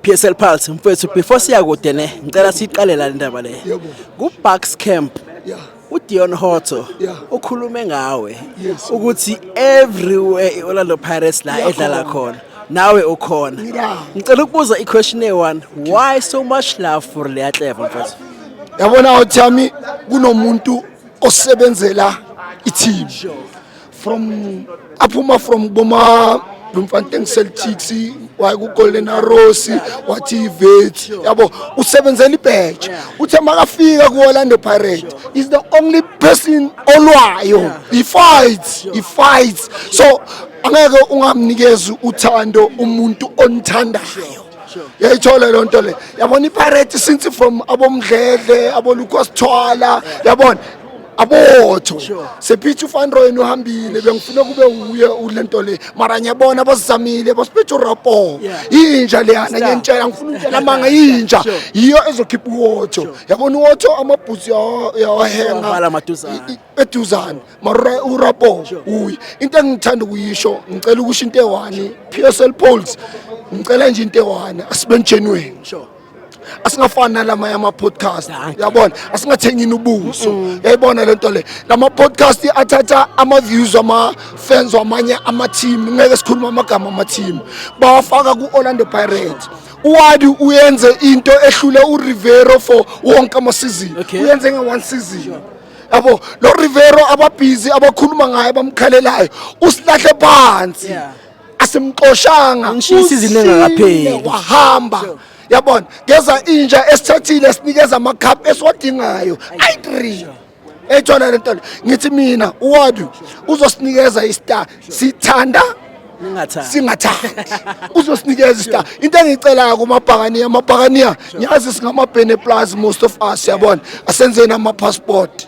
PSL Pulse mfethu before siya kude ne ngicela siqale la indaba le ku Bucks Camp uDion Hotto ukhulume ngawe ukuthi everywhere iOrlando Pirates la edlala khona nawe ukhona ngicela ukubuza iquestion e1 why so much love for Lea Clever mfethu yabona uThami kunomuntu osebenzela i-team from aphuma from boma Bloemfontein Celtics waye kuGolden Arrows wathi iVet yabo usebenzela ibheje uthe makafika kuOrlando Pirates is the only person olwayo he fights he fights so angeke ungamnikezi uthando umuntu onithandayo yayithola loo nto le yabona ipirate since from abomdledle abolukosithwala yabona abotho sephithi ufanroyen uhambile bengifuna kube wuye ule nto le mara ngiyabona basizamile basiphethe urapo yinja leyana ngiyantshela ngifuna ukutshela amanga yinja yiyo ezokhipha uwotho yabona uwotho amabhuzi yawahenga eduzane mara urapo uyi into engithanda ukuyisho ngicela ukusho into ewani p s l poles ngicela nje into ewani asibe njenweni asingafani nalamanye ama-podcast yabona asingathengini ubuso mm. yayibona le nto le lama-podcast athatha ama-views ama-fans wamanye ama-team ngeke sikhuluma amagama ama-team bawafaka ku-orlando pirate uwadi uyenze into ehlule urivero for wonke amasizini uyenze nge-one season sure. yabo lo Rivero ababhizi abakhuluma ngaye bamkhalelayo usilahle phansi yeah. asimxoshanga Ngishisa izini engakapheli. Usile wahamba yabona ngeza inja esithathile sinikeza amacup esiwadingayo i3 ethola lento le. ngithi mina uwadu uzosinikeza istar sithanda Ningathanda. singathandi uzosinikeza istar into engiyicelayo kumabhakaniya amabhakaniya ngiyazi singamabhene plus most of us yabona asenzeni ama-passport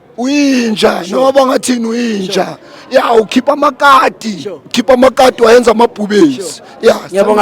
uyinja noma bangathini uyinja ya ukhipha amakati ukhipha amakati wayenza amabhubesi ya Ngiyabonga